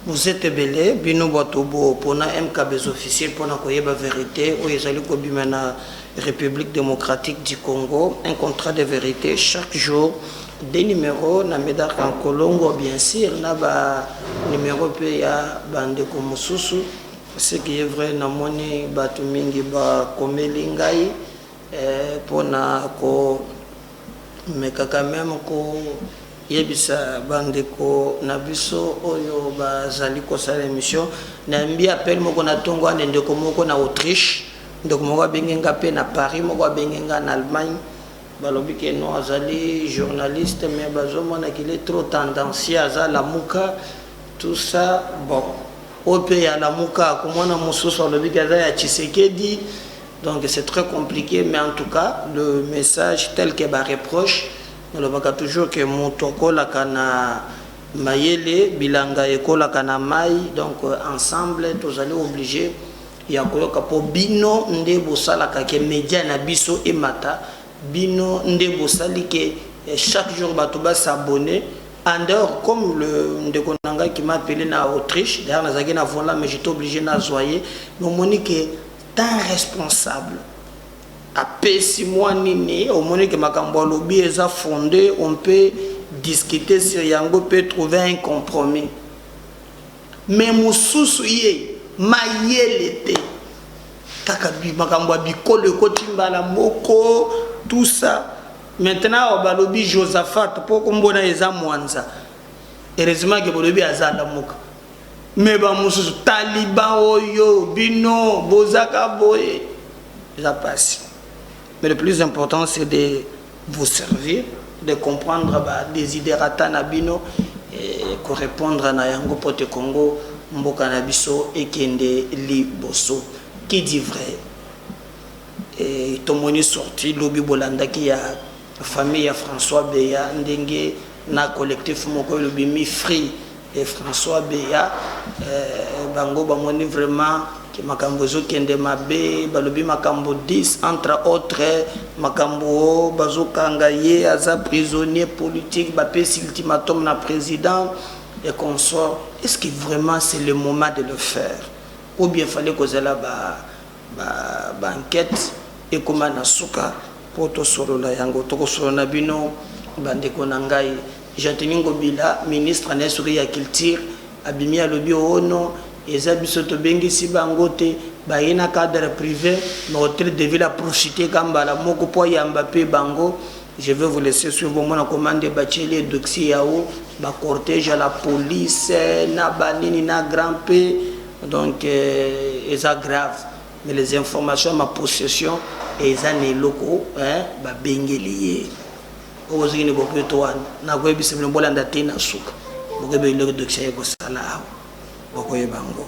vous êtes ebele bino bato bopona mkbs officiel mpona koyeba verité oyo ezali kobima na république démocratique du congo un contrat de vérité chaque jour Deux numeros na Medard Kankolongo bien sur na ba numeros pe ya ba ndeko mususu ce qui est vrai na moni batu mingi ba komeli ngai pona ko meka quand meme ko yebisa ba ndeko na biso oyo ba zali ko sala emission na yambi appel moko na tongo ane ndeko moko na Autriche ndeko moko abengi nga pe na Paris moko abengi nga na Allemagne Balobi que non azali journaliste mais bazo mona qu'il est trop tendancieux aza lamuka tout ça bon oyo pe ya lamuka akomona mosusu alobi que aza ya Tshisekedi donc c'est très compliqué mais en tout cas le message tel que ba reproche nalobaka toujours que moto akolaka na mayele bilanga ekolaka na mai donc ensemble tozali oblige ya koyoka po bino nde bosalaka ke media na biso emata bino nde bosali ke chaque jour batu ba s'abonner en dehors comme le ndeko na ngai qui m'a appele na Autriche d'ailleurs nazalaki na volant mais j'etais oblige nazua ye mais omoni ke temps responsable apesi mwa nini omoni ke makambo alobi eza fonde on peut discuter sur yango pe trouver un compromis Mais mususu ye mayele te kaka makambo ya bikolo ekoti mbala moko tout ça maintenant awa balobi Josaphat po kombo naye eza mwanza heureusement ke bolobi aza lamuka mais ba mususu taliban oyo bino bozaka boye eza pasi mais le plus important c'est de vous servir de comprendre ba desiderata na bino et ko repondre na yango mpo te Congo mboka na biso ekende liboso. Qui dit vrai? Et tomoni sortie lobi bolandaki ya famille ya François Beya ndenge na collectif moko elobi mi free et François beya bango bamoni vraiment que makambo ezokende mabe balobi makambo 10 entre autre makambo bazokanga ye aza prisonnier politique bapesi ultimatum na president et consort est ce que vraiment c'est le moment de le faire ou bien fallait kozala ba ba ba enquete ekoma na suka po tosolola yango tokosolola na bino ba ndeko na ngai Gentiny Ngobila ministre naye soki ya culture abimi alobi oo non eza biso tobengisi bango te baye na cadre prive mais hotel de ville a profite ka mbala moko po ayamba pe bango je veux vous laisser suivre bomona koma nde batieli ye doxier yao ba cortège ya la police na ba nini na grand pe Donc eza grave mais les informations ma possession eza na eloko hein ba bengeli ye oyo ozoki ni boketo wana na koyebisa bino bolanda te na suka bokebi eloko dokisa ye kosala awa bokoyeba yango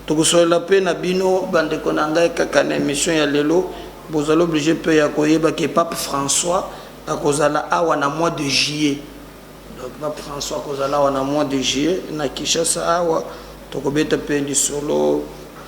tokosolola mpe na bino bandeko na ngai kaka na émission ya lelo bozali oblige mpe ya koyeba ke pape françois akozala awa na mois de juillet Donc pape François akozala awa na mois de juillet na Kinshasa awa tokobeta pe lisolo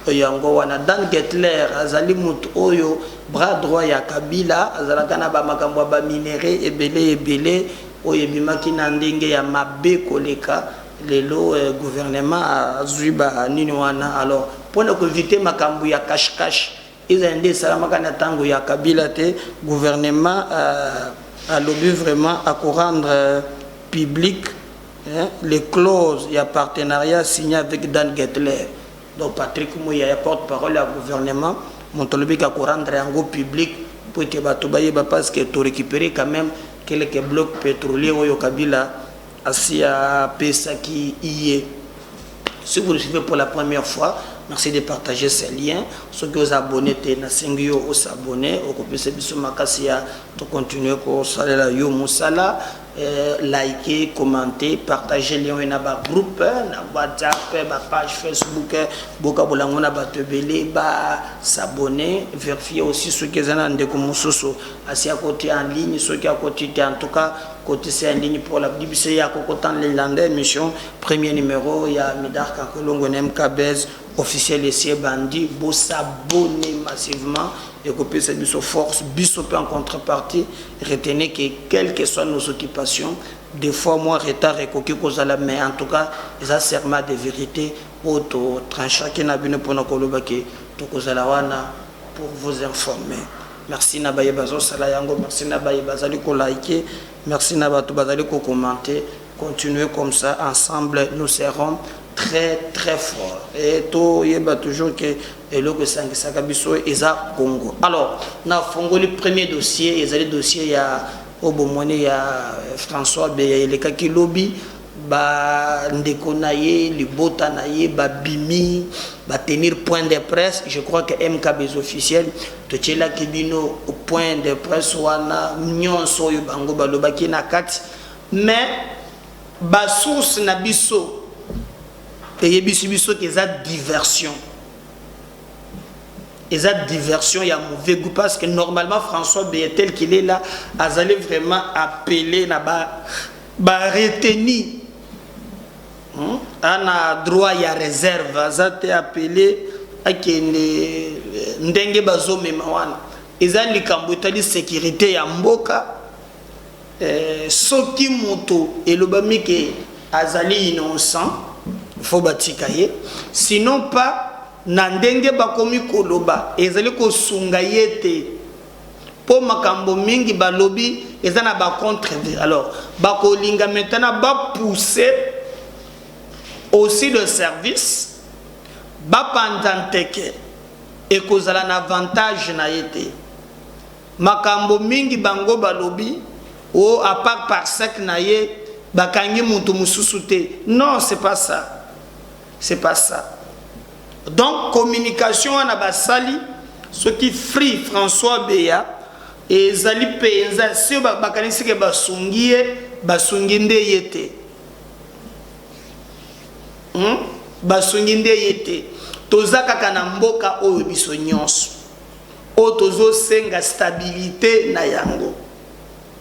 yango wana. Dan Getler azali mutu oyo bras droit ya Kabila azalaka na ba makambo ya ba minerais ebele ebele oyo ebimaki na ndenge ya mabe koleka lelo gouvernement azui ba nini wana alors pona ko eviter makambo ya cache cache Ezali nde esalamaka na tango ya Kabila te, gouvernement alobi vraiment ako rendre public les clauses ya partenariat signe avec Dan Getler donc Patrick Muyaya porte parole ya gouvernement mutu alobi ke ako rendre yango public po ete batu bayeba parce que to recuperer quand meme quelques blocs petroliers oyo Kabila asi apesaki ye. Si vous nous suivez pour la première fois, merci de partager ce lien. Ceux qui osent abonner, te na sengi yo os abonner, okopesa biso makasi ya to continuer ko salela yo musala, euh, liker, commenter, partager lien na ba groupe, na WhatsApp, ba page Facebook, boka bolango na bato ebele ba s'abonner, vérifier aussi ceux qui ezana ndeko mususu asi à côté en ligne, ceux qui à côté en tout cas côté c'est en ligne pour la BBC ya kokota en ligne émission Premier numero ya Medard Kankolongo na MK Buzz officiel esi ebandi bo s'abonner massivement ekopesa biso force biso pe en contrepartie retenez que quelle que soit nos occupations des fois moi retard ekoki kozala mais en tout cas eza serment de vérité oyo totranchaki na bino mpona koloba ke tokozala wana pour vous informer merci na baye bazosala yango merci na baye bazali kolaike Merci na batu bazali ko commente continuer comme ça ensemble nous serons très très fort et to yeba toujours que eloko esangisaka biso eza Congo alors na fongoli premier dossier ezali dossier ya obomoni ya François Beya elekaki lobi ba ndeko na ye libota na ye ba bimi ba tenir point de presse je crois que MK Bezo officiel to tielaki bino point de presse wana nionso oyo bango ba lobaki na kati mais ba source na biso eyebisi biso ke eza diversion eza diversion ya mauvais goût parce que normalement françois beye tel qu'il est là azali vraiment appelé na ba Ba retenu ana droit ya reserve aza te appele akende ndenge bazo mema wana eza likambo etali securite ya mboka eh, soki moto elobami ke azali innocent faut batika ye sinon pas na ndenge bakomi koloba ezali kosunga ye te po makambo mingi balobi eza na ba contre alors bakolinga maintenant ba pousser aussi le service bapanza nteke ekozala na avantage na ye te makambo mingi bango balobi o apart parsec na ye bakangi moto mosusu te non c'est pas ça C'est pas ça. Donc communication wana basali soki Free François Beya ezali penza si bakanisi ke basungi ye basungi nde ye te. Hmm? Basungi nde ye te. Toza kaka na mboka oyo biso nyonso. Oyo tozosenga stabilité na yango.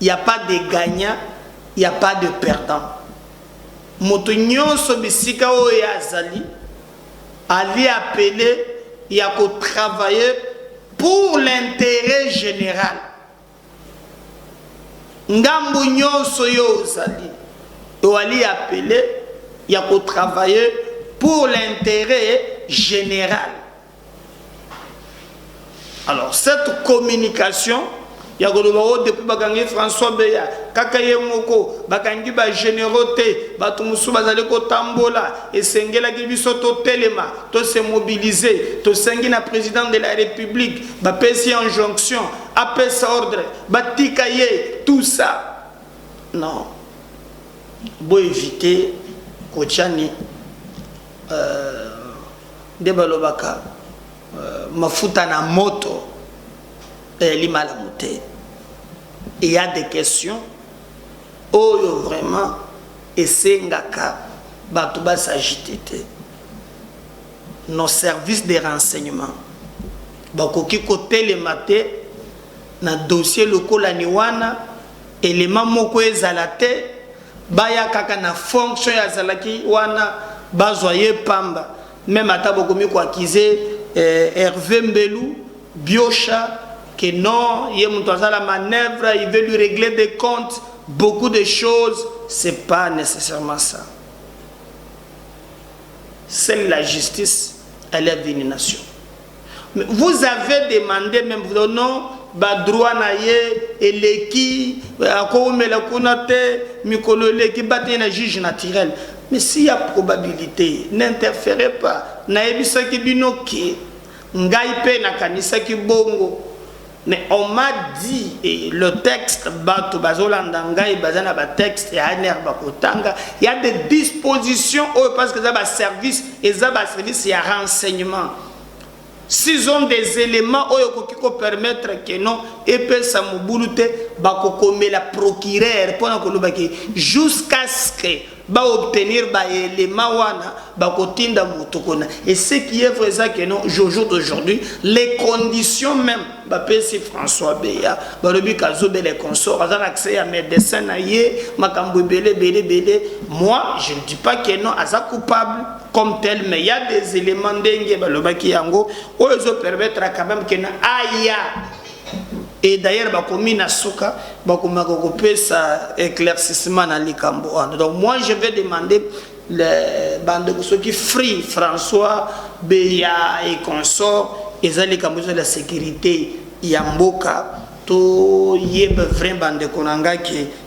Il n'y a pas de gagnant, il n'y a pas de perdant. Moto nyonso bisika oyo ye azali ali appele ya ko travaille pour l'interet general. Ngambo nyonso yo ozali oali appele ya ko travaille pour l'interet general. alors cette communication ya koloba o oh, depuis bakangi françois beya kaka ye moko bakangi bagénéraux te bato mosusu bazali kotambola esengelaki biso totelema tose mobilize tosengi na président de la république bapesi ye injonction apesa ordre batika ye tout ça non boevite kotiani Euh, nde balobaka euh, mafuta na moto eyali eh, malamu te il y a des questions oyo vraiment esengaka bato basagite te nos services de renseignement bakoki kotelema te na dossier lokola ni wana elema moko ezala te Baya kaka na fonction ya azalaki wana bazwa ye pamba meme ata bokomi ko accuse Herve Mbelu, Biosha que non ye mutu aza na manoeuvre il veut lui regler des comptes beaucoup de choses c'est pas necessairement ça. Seule la justice elle est vue une nation. Vous avez demande meme vos non ba droit na ye eleki akowumela kuna te mikolo eleki bate na juge naturel mais si ya probabilité n'interfere pas nayebisaki bino ke ngai mpe nakanisaki bongo Mais on m'a dit et le texte bato bazolanda ngai baza na ba texte ya ANR bakotanga il y a des dispositions oyo parce que eza ba service eza ba service ya renseignement s'ils ont des éléments oyo ekoki ko permettre que non epesa mobulu te bakokomela procureur mpona koloba ke jusqu'à ce que ba obtenir ba element wana bakotinda moto kona et ce qui est vrai eza que non jojo d'aujourd'hui les conditions même bapesi françois beya balobi kazobe les consort aza na accès ya médecin na ye makambo ebele ebele ebele moi je ne dis pas que non aza coupable comme tel mais ya des éléments ndenge balobaki yango oyo ezopermettre quand même que na aya et d'ailleurs bakomi na suka bakomaka kopesa éclaircissement na likambo wana donc moi je vais demander le bandeko soki free françois beya et consort eza likambo eza la sécurité ya mboka toyeba vrai bandeko na ngai ke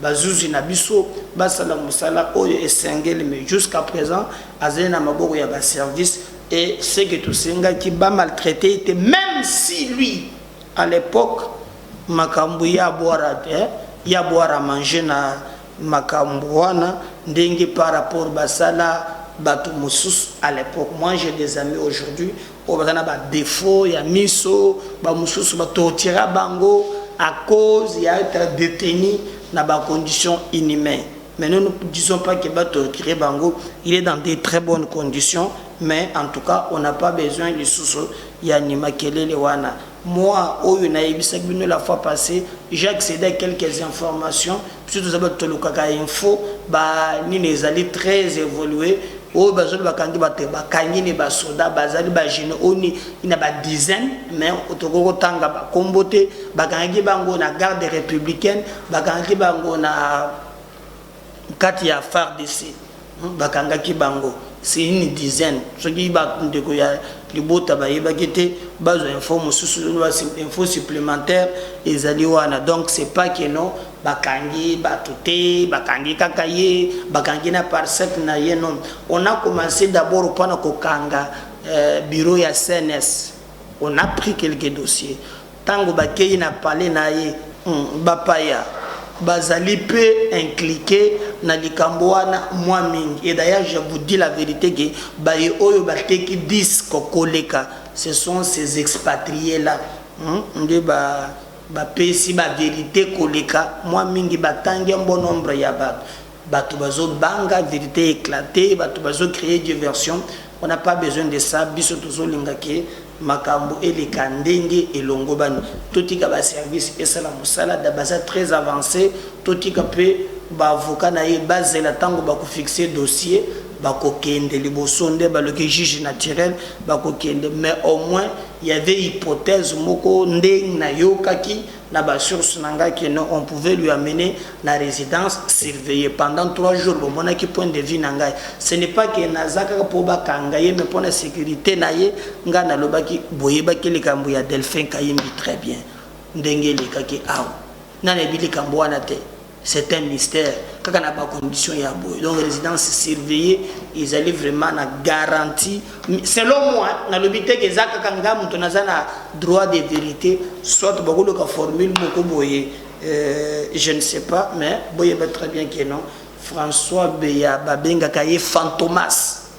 Ba zuzi na biso basala musala oyo esengeli mais jusqu'à present azali na maboko ya ba services et ce que tosengaki ba maltraiter ye te meme si lui à l'epoque makambu ya boire eh ya boire à manger na makambu wana ndenge par rapport basala batu mosusu à l'epoque moi j'ai des amis aujourd'hui oyo baza na ba defaut ya miso ba mususu ba tortira bango à cause ya etre detenu na ba conditions inhumain mais nous nous disons pas que ba tortire bango il est dans des très bonnes conditions mais en tout cas on n'a pas besoin lisusu ya ni makelele wana Moi oyo na yebisaki bino la fois passe, j'ai accede à quelques informations, biso toza batu tolukaka info, ba nini ezali très evolue, oyo bazoli bakangi batu ba kangi ne ba soda bazali ba jeunes oni ina ba dizaine mais otokoki kotanga ba kombo te bakangaki bango na garde républicaine bakangaki bango na kati ya fardc bakangaki bango c'est une dizaine soki ba ndeko ya libota bayebaki te bazwa info mosusu info supplémentaire ezali wana donc c'est pas que non bakangi bato te bakangi kaka ye bakangi na parsec na ye non on a commencé d'abord mpona kokanga euh, bureau ya cns on a pris quelques dossiers Tango bakeyi na palais na ye, bapaya bazali mpe incliquer na likambo wana mua mingi et d'ailleurs je vous dis la verite que baye oyo bateki disques koleka ce sont ces expatries là nde bapesi ba verites koleka mua mingi batangi un bon nombre ya batu. Batu bazo banga verite eclate batu bazo cree diversion on a pas besoin de ça biso tozo linga que makambu eleka ndenge elongobani totika ba service esala musala da baza très avance totika pe ba avocat naye bazela tangu bako fixe dossier bako kende liboso nde baloki juge naturel bako kende mais au moins y'avait hypothèse moko ndeng nayokaki na ba sources na ngai que non on pouvait lui amener na residence surveillee pendant trois jours bomonaki point de vue na ngai ce n'est pas que naza kaka po bakanga ye mais pona securite na ye ngai nalobaki boyebaki likambo ya Delphin Kayimbi très bien ndenge elekaki awa nani ayebi likambo wana te c'est un mystère kaka na ba conditions ya boye donc résidence surveillée ezali vraiment na garantie selon moi nalobi te ke eza kaka nga moto naza na droit de vérité soit bakoluka formule moko boye euh, je ne sais pas mais boyeba très bien ke non françois beya babengaka ye fantomas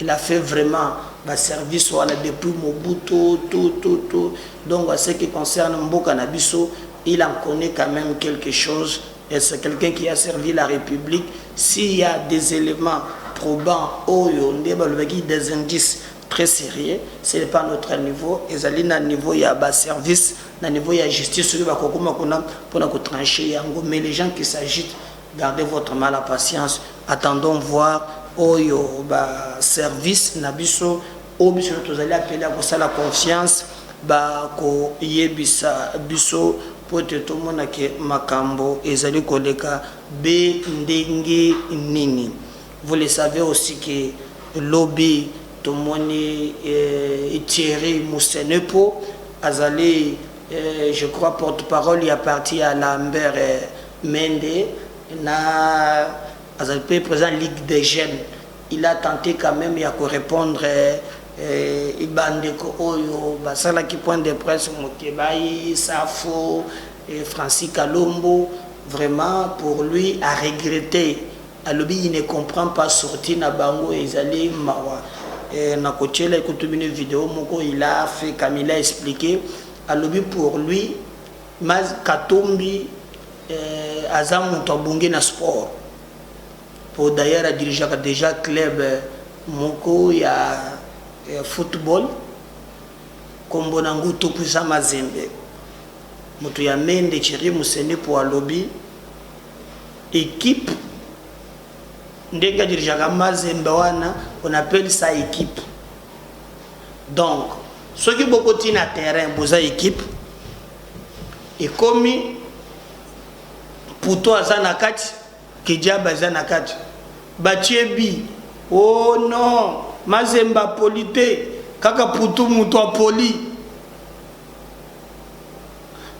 Il a fait vraiment ba service wana depuis Mobutu tout tout tout donc en ce qui concerne mboka na biso il en connait quand meme quelque chose et c'est quelqu'un qui a servi la Republique s'il ya des elements probants oyo nde balobaki des indices très sérieux ce n'est pas notre niveau ezali na niveau ya ba service na niveau ya justice oyo bakokoma kuna mpona kotranche yango mais les gens qui s'agite Gardez votre mal à patience attendons voir oyo ba service na biso oyo biso nionso tozali apele ya kosala confiance ba ko yebisa biso po ete tomona ke makambo ezali koleka be ndenge nini vous le savez aussi ke lobi tomoni Thierry Musenepo azali je crois porte parole ya parti ya Lambert Mende na azali pe president ya ligue des jeunes il a tente quand meme ya ko repondre ba ndeko oyo ba salaki point de presse Mukebayi, Safu, Francis Kalombo vraiment pour lui a regrette alobi il ne comprend pas sortie na bango ezali mawa nako tiela kutu bino video moko il a fait comme il a explique alobi pour lui Maz katumbi eh, aza mutu abongi na sport po d'ailleurs a dirigeaka dejà club moko ya eh, football kombo na ngo Tukuza Mazembe mutu ya Mende Thierry Musende po alobi equipe ndenge a dirigeaka Mazembe wana on appelle ça equipe Donc soki boko ti na terrain boza equipe ekomi puto aza na kati kidiaba aza na kati batie bi o oh non mazemba poli te kaka putu moto apoli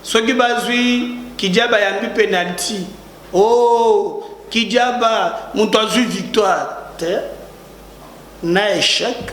soki bazwi kidiaba yambi penalti o oh, kidiaba moto azwi victoire te na echec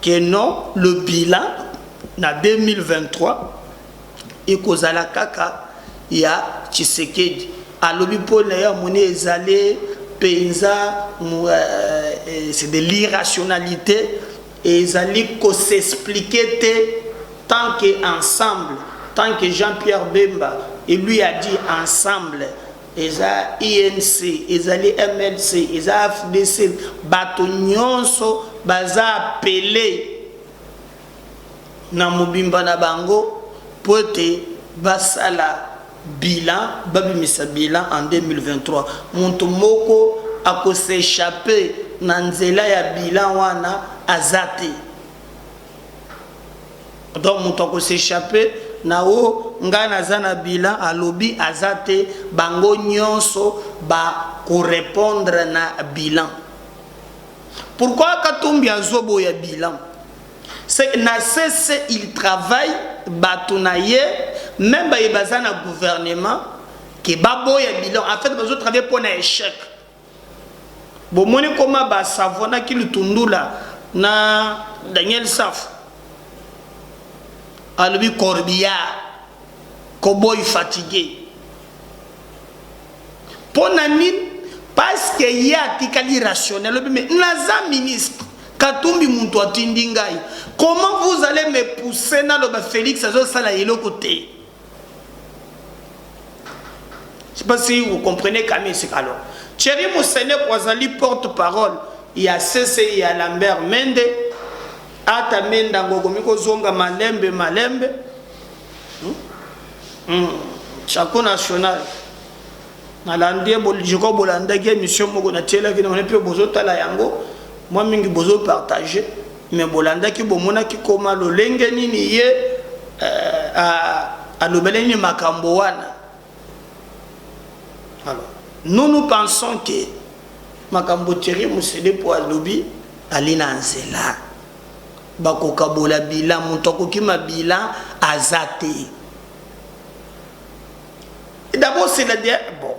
que non le bilan na 2023 ekozala kaka ya Tshisekedi alobi mpo naye amoni ezali mpenza c'est de l'irrationalite ezali ko s'explique te tant que ensemble tant que Jean-Pierre Bemba et lui a dit ensemble eza UNC ezali MLC eza afdc batu nionso baza appele na mobimba na bango po ete basala bilan babimisa bilan en 2023 mutu moko ako s'echapper na nzela ya bilan wana aza te. donc moto ako s'echapper na oh nga naza na bilan alobi aza te bango nionso ba ko repondre na bilan pourquoi katumbi azoboya bilan c'est na cesse il travaille bato na ye meme baye baza na gouvernement ke baboya bilan en fait bazotravaille mpo na échec Bomoni koma ba savonaki lutundula na Daniel safu alobi corbillard koboy fatigue pona nini paske ye atikali rationnel alobi me naza ministre katumbi muntu atindi ngai comment vous allez me pousser naloba felix azosala eloko te Je sais pas si vous comprenez Camille Sikalo. Thierry Mousseneko azali porte-parole ya CCI ya Lambert Mende. Ata Mende yango okomi kozonga malembe malembe. Hmm. Hmm. Chapeau national. nalandi ye je crois bolandaki émission moko natielaki na mpe bozotala yango mwa mingi bozopartage mais bolandaki bomonaki koma lolenge nini ye euh, alobele nini makambo wana alors nous nous pensons que makambo thierry mosede mpo alobi ali na nzela bakokabola bila moto akokima bila aza te D'abord c'est la bon.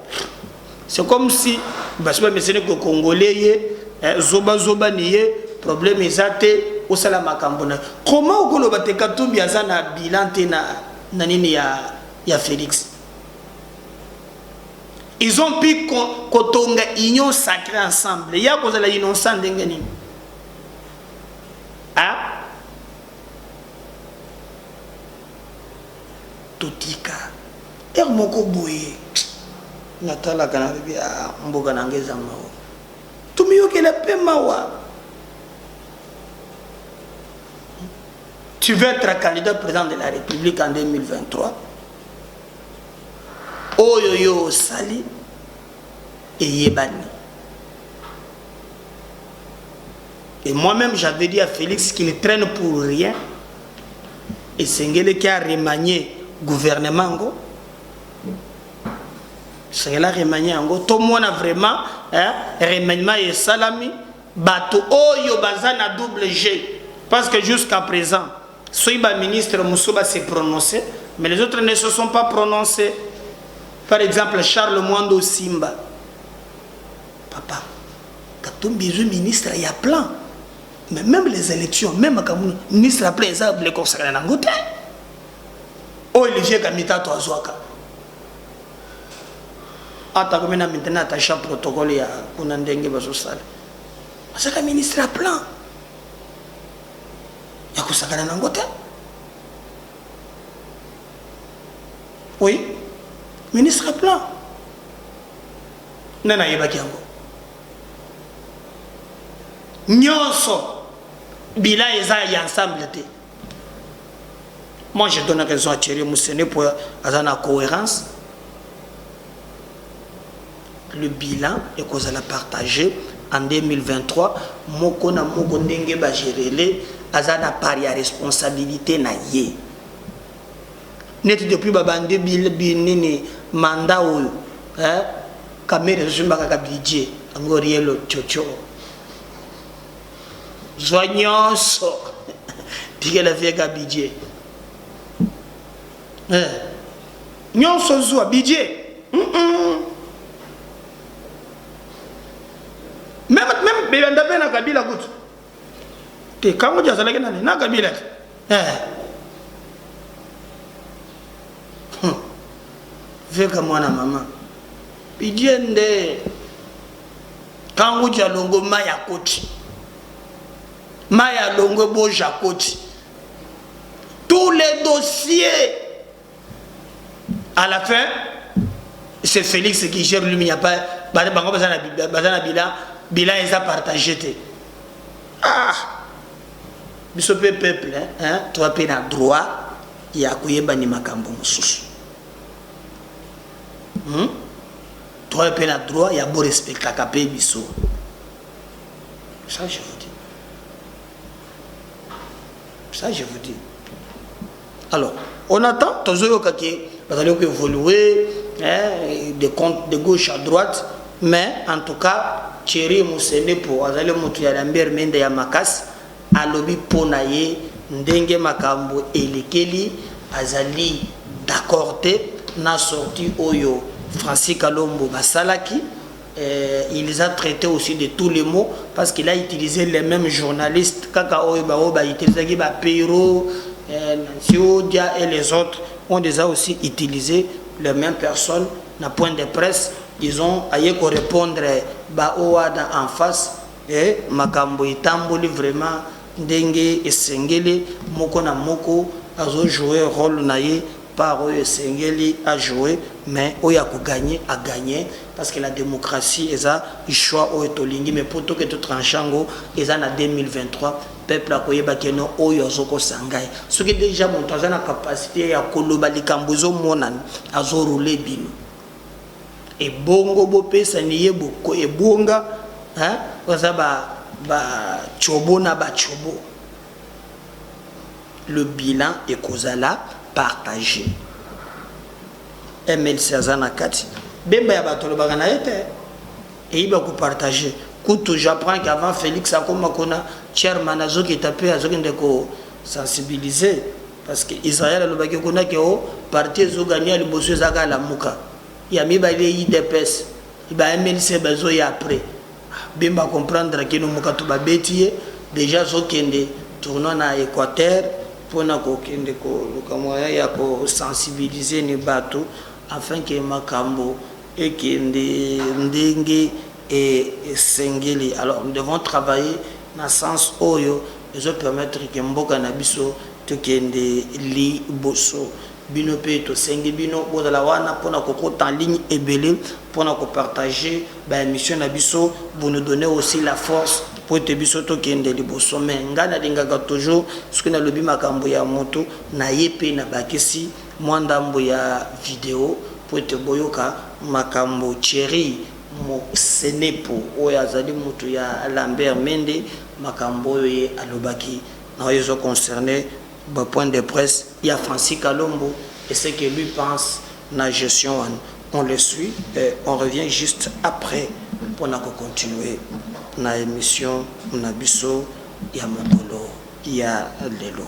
C'est comme si basi ba mesene ko congolais ye eh, zoba zoba ni ye problème eza te osala makambo na comment okoloba te katumbi aza na bilan te na na nini ya ya Félix ils ont pu kotonga union sacrée ensemble ya kozala innocent ndenge nini totika heure moko boye natalaka nalobi ah mboka na nga eza mawa tomiyokela mpe mawa tu veux être candidat président de la république en 2023 oyo yo osali eyebani et moi-même j'avais dit à félix qu'il traîne pour rien esengeleki a remanier gouvernement yango esengeli a remanier yango tomona vraiment eh, remaniement esalami bato oyo baza na double g parce que jusqu'à présent soki baministre mosusu base prononce mais les autres ne se sont pas prononcés par exemple charles mwando simba papa katumbi ezwi ministre ya plan mais meme les élections meme makambo ministre ya plan eza biloko kosakana na yango te oyo olivier kamitato azwaka atako mena mitene attacha protocole ya kuna ndenge bazosala azaka ministre ya plan ya kosakana na yango te oui ministre ya plan nani ayebaki yango nionso bilan eza ya ensemble te moi je donne raison à Thierry Moussene po aza na coherence le bilan ekozala partage en 2023 moko na moko ndenge bagerele aza na part ya responsabilité na ye neti depuis babandi nini manda oyo eh? Kamere azosumba kaka bidje yango rien lococo zwa nyonso tikela vie ka bidje eh. nyonso zwa bidje mm -mm. meme meme beyanda mpe na kabila kutu te kango ti azalaki nani na kabila te eh. Hum veka mwana mama pidie nde kangu ja longo ma ya koti ma ya longo bo ja koti tous les dossiers à la fin c'est Félix qui gère lui il n'y a pas bango baza na bilan bilan eza partage te ah biso mpe peuple hein, toa mpe na droit ya koyeba ni makambo mosusu hum toye pe na droit ya bo respectaka pe biso ça je vous dis ça je vous dis alors on attend tozoyoka ke bazali ko évoluer eh, de compte de gauche à droite mais en tout cas Thierry Musenepo azali moto ya Lambert Mende ya makasi Alobi po na ye ndenge makambo elekeli azali d'accord te na sortie oyo Francis Kalombo basalaki, il les a traites aussi de tous les mots parce qu'il a utilise les memes journalistes kaka oyo ba oyo ba utilisaki ba Pero, Nancy Odia et les autres ont des a aussi utilise les memes personnes na point de presse disons aye ko repondre ba oyo wana en face. Eh makambo etamboli vraiment ndenge esengeli moko na moko azo jouer role na ye part oyo esengeli a jouer mais oyo ako gagne a gagne parce que la democratie eza choix oyo tolingi mais po toke to tranche yango eza na 2023 peuple ako yeba ke non oyo azo kosa ngai soki dejà mutu aza na capacite yako loba likambo ezo monana azo rouler bino Ebongo bo pesa niye boko ebwonga hein baza ba ba tshobo na ba tshobo le bilan ekozala partage MLC aza na kati bemba ya bato alobaka na ye te eyiba ko partage kutu j'apprends qu'avant Felix akoma kuna chairman azokita pe azokende ko sensibiliser Parce que Israël alobaki kuna que oh parti ezo gagne ya liboso eza kaka lamuka, ya mibale udps, ba mlc bazo ya après. Bemba a comprendre que Numukatu ba beti ye dejà azo kende tournoi na Equateur pona ko kende ko luka moyen ya ko sensibiliser ne batu afin que makambu ekende ndenge e esengeli alors nous devons travailler na sens oyo ezo permettre que mboka na biso to kende li boso bino pe to sengi bino bo zala wana pona ko kota en ligne ebele pona ko partager ba emission na biso vous nous donnez aussi la force po ete biso to kende li boso mais nga na lingaka toujours soki na lobi makambo ya mutu na ye pe na bakisi mwa ndambo ya video po ete boyoka makambo cherie Moselepu oyo azali mutu ya Lambert Mende, makambo oyo ye alobaki na oyo ezo concerner ba points de presse ya Francis Kalombo et ce que lui pense na gestion wana, on le suit et on revient juste après pona ko continuer na emission na biso ya mokolo ya lelo.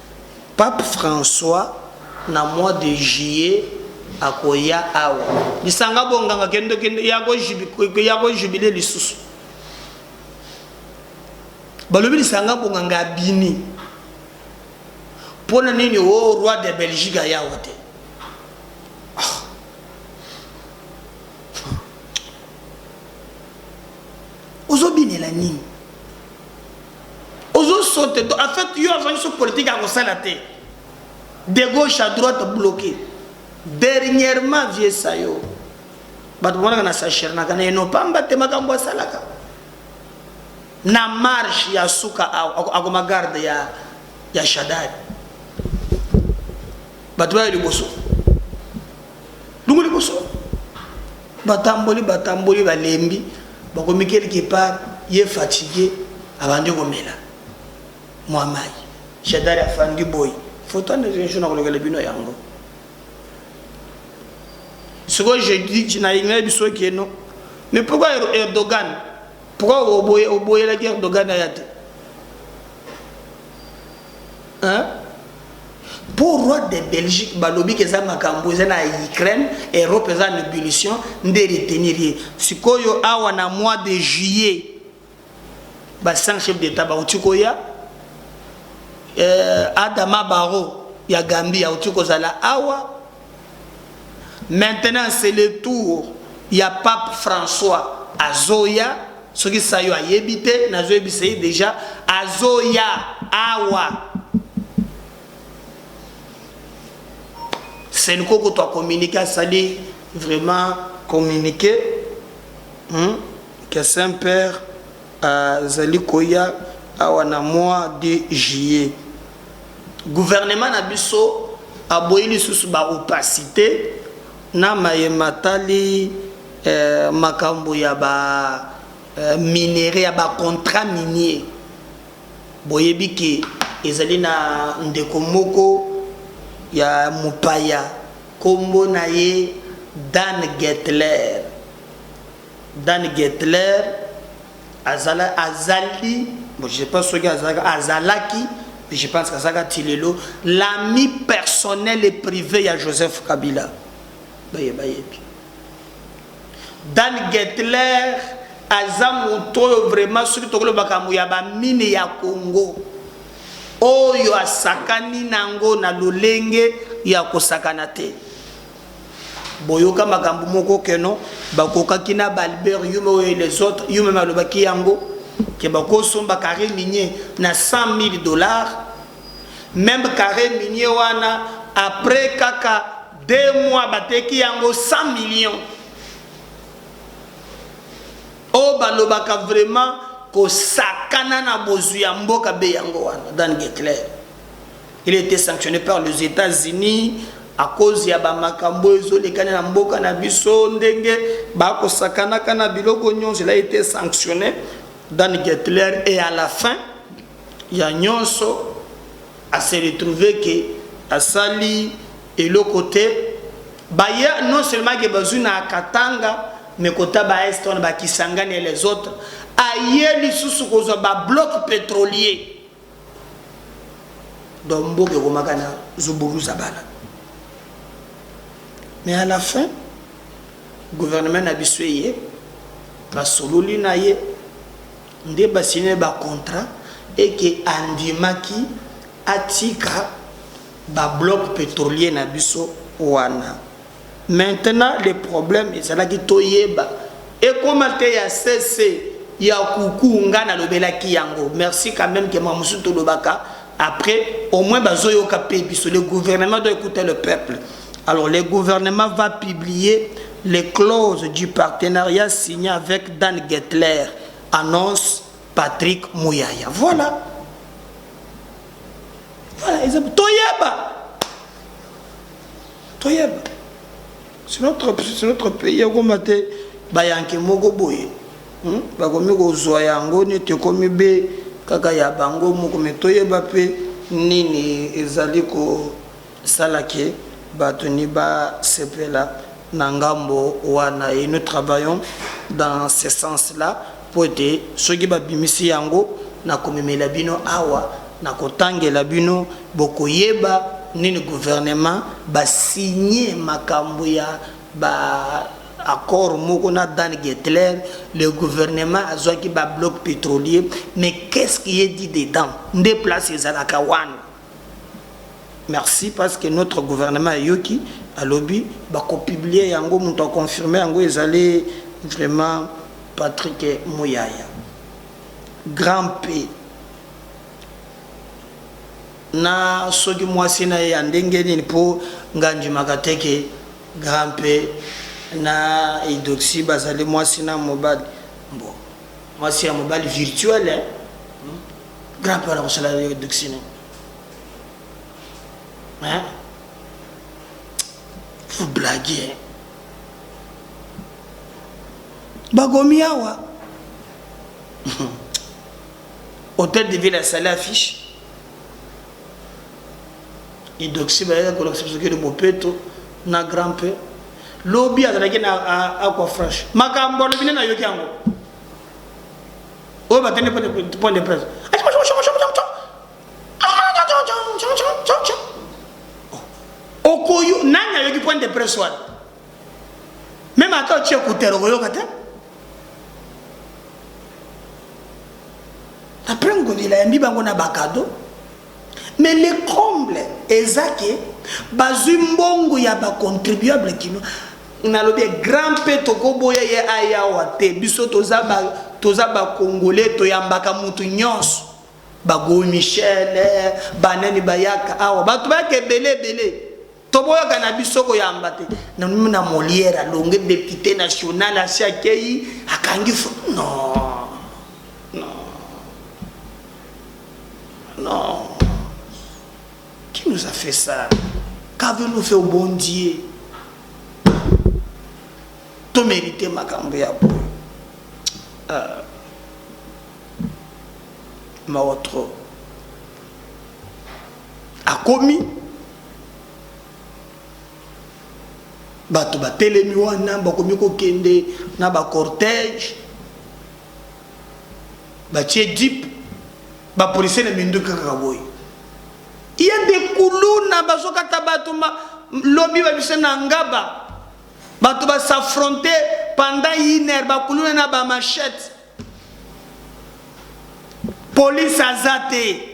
Pape François na mois de juillet akoya awa. Lisanga bonganga kende kende ya ko jubile lisusu. Balobi lisanga bonganga abimi. Pona nini o oh, roi de Belgique aya awa te? ozobinela nini Ozo sote to en fait yo azwaki so politique ya kosala te de gauche à droite bloqué dernièrement vieux sayo bato bamonaka na sachernaka na eno pamba te makambo asalaka na marche ya suka akoma garde ya, ya shadari bato bayo liboso Lungu liboso. Batamboli, batamboli, balembi, bakomi quelque part, ye fatigue, abandi komela mua mayi. Shadary afandi boye. Photo ya Ndeko Michou nakolokela bino yango. Sikoyo je dis, nayinga biso keno, mais pourquoi er-, Erdogan? Pourquoi oboyelaki Erdogan ayate? Hein? Po roi de Belgique balobi ke eza makambu eza na Ukraine, Europe eza en ebullition nde e retenir ye. Sikoyo awa na mois de juillet ba 5 chefs d'etat bawuti koya, eh, Adama Barrow ya Gambie awuti kozala awa, Maintenant c'est le tour ya pape François azoya soki sayo ayebi te nazo yebisa ye dejà azoya awa Cenco kutu a communique asali vraiment communique hmm? que Saint Père azali koya awa na mois de juillet Gouvernement na biso aboyi lisusu ba opacite na maye matali makambo ya ba minerais, ya ba contrats miniers. Boyebi que ezali na ndeko moko ya mopaya kombo na ye Dan Getler. Dan Getler Azala, azali, bon je sais pas soki azalaka, azalaki, puis je pense qu'azalaka ti lelo, l'ami personnel et prive ya Joseph Kabila. Baye bayebi. Dan Getler aza moto oyo vraiment soki tokoloba makambo ya bamine ya Congo oyo asakani nango na lolenge ya kosakana te. boyoka makambo moko keno bakokaki na balbert yume oyo et les autres yume malobaki yango ke bakosomba carré minier na 100 000 dollars même carré minier wana après kaka deux mois bateki yango 100 millions oyo balobaka vraiment kosakana na bozwi ya mboka be yango wana dan getler il était sanctionné par les États-Unis à cause ya bamakambo ezolekana na mboka na biso ndenge bakosakanaka na biloko nyonso il a été sanctionné Dan Getler et à la fin ya nyonso à se retrouver que asali eloko te baye non seulement ke bazwi na katanga mais kota ba est wana bakisangani et les autres aye lisusu kozwa ba bloc pétrolier donc mboka ekomaka na zuburuzabala mais à la fin gouvernement na biso eye basololi na ye nde basine bacontrat eke andimaki atika babloc petrolier na biso wana Maintenant le problème ezalaki toyeba ekoma te ya sese ya kuku nga na lobelaki yango merci quand meme que makambo mosusu tolobaka après au moins bazo yoka pe biso le gouvernement doit ecouter le peuple alors le gouvernement va publier les clauses du partenariat signé avec Dan Getler annonce Patrick Muyaya voilà voilà toyeba toyeba c'est notre, c'est notre pays ekoma te bayanke moko boye hmm? bakomi kozwa yango neti ekomi be kaka ya bango moko me toyeba mpe nini ezali kosala ke bato ni basepela na ngambo wana et nous travaillons dans ce sens là Mpo ete soki babimisi yango, nakomemela bino awa, nakotangela bino, bokoyeba nini guvernema ba signer makambo ya ba accords moko na Dan Geithler, le gouvernement azwaki ba blocs petroliers, mais qu'est-ce qui est dit dedans? Nde place ezalaka wana. Merci parce que notre gouvernement ayoki alobi bako publier yango mutu a confirmer yango ezali vraiment Patrick Muyaya grand P na soki mwasi na ye ya ndenge nini mpo nga ndimaka te ke grand P na idoxi bazali mwasi na mobali mbo mwasi ya mobali virtuel eh? Grand père akosala yo duxine. Hein? Vous blaguez. Bakomi awa. Hôtel de ville asali affiche. Idoxi bayaka kolakisa biso kede mopeto na grand père. Lobi azalaki na aqua franche. Makambo alobi nde nayoki yango. oyo bakende point de presse okoyo nani ayoki point de presse wana meme ata otie kutere okoyoka te après ngobila yambi bango na bakado Mais le comble eza que bazui mbongo ya ba contribuables kinois nalobi ye grand pe toko boya ye aya awa te biso toza ba toza ba congolais toyambaka mutu nionso ba go michel ba nani bayaka awa batu bayaka ebele ebele Toboyaka na biso koyamba te. Na Molière alongue depute national asi akeyi akangi fo non. Non. Non. Qui nous a fait ça? Qu'avez-nous fait au bon Dieu? To mérite makambo ya boye. Euh, mawa trop. Akomi, bato batelemi wana, bakomi kokende na ba cortège, batie jeep, ba policiers na minduki kaka boye. Il y a des kuluna bazokata bato ma lobi babise na Ngaba, bato ba s'affronter pendant une heure, ba kuluna na ba machettes. Police aza te.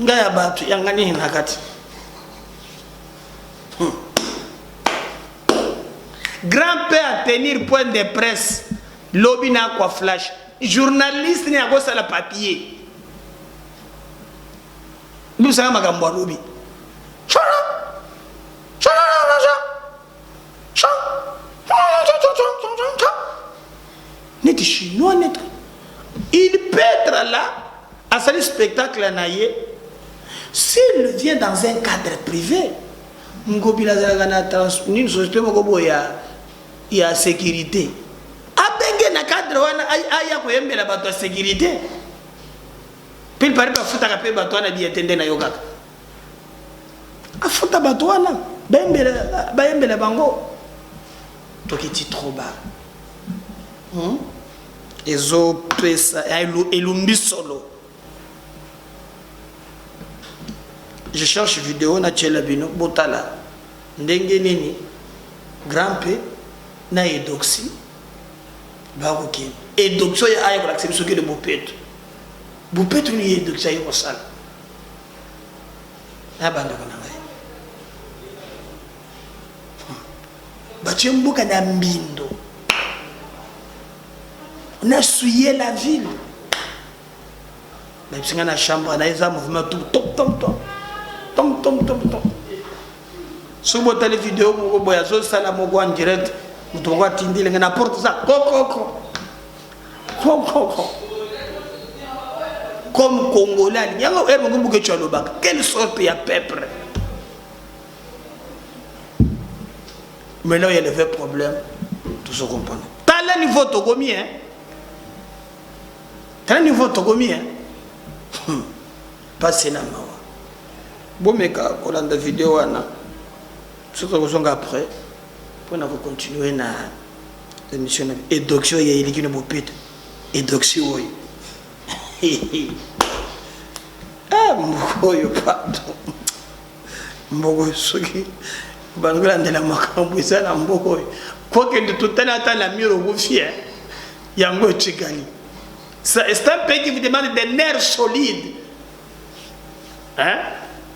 nga ya bato yanga nini na kati hmm. grand père à tenir point de presse lobi na akwa flash journaliste ni akosala papier bibisaka makambo alobi neti chinois neti il petre la asali spectacle na ye s'il vient dans un cadre privé ngobila azalaka na nini société moko boye ya, ya sécurité abenge na cadre wana aya koyembela bato ya sécurité mpe pari bafutaka mpe bato wana biye te nde nayokaka Afuta bato wana bayembela bango tokiti trop bas hmm? ezopesa elumbi solo je cherche video natyela bino botala ndenge nini grampe na edoxi bakokende edoxi oyo ayekolakisa biso kede bopeto bopeto nini edoxi ayekosala na bandeko na ngai batie mboka na mbindo na suye la ville nayebisi ngai na chambre na eza mouvement tu tomtomtom tomtomtomtom soki botali video moko boye azosala moko en direct moto moko atindeli ngai na porte eza kokoko comme congolais alingi yango ere moko mbukecu alobaka quelle sorte ya peuple mais là il y a le vrai problème tout se comprendre tala niveau tokomi hein tala niveau tokomi hein hmm. pasi na mawa bomeka kolanda video wana soki tokozonga après mpo na kocontinue na Emission na edoxy oyo eliki na bopete. Edoxy oyo. Ah, mboko oyo pardon. Mboko soki bazolandela makambo eza na mboko oyo. Kokende totali ata na miro okufi eh. yango etikali. C'est un pays qui vous demande des nerfs solides. Hein?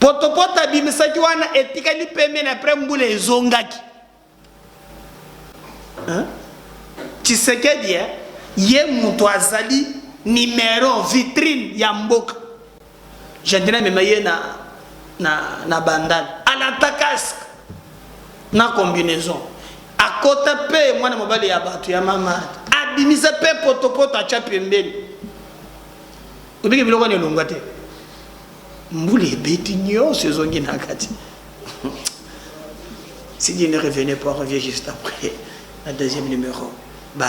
Potopoto abimisaki wana etikali pembeni après mbula ezongaki. Hein? Tshisekedi hein? ye mutu azali numero vitrine ya mboka. Jadina mema ye na na na bandal. Alata casque na combinaison. Akota pe mwana mobali ya batu ya mama. Abimisa pe potopoto acha pembeni. Obiki biloko ne longa te. Mbula ebeti nionso ezongi na kati. si Dieu ne revenait pas, on revient juste après la deuxième numéro. Bye.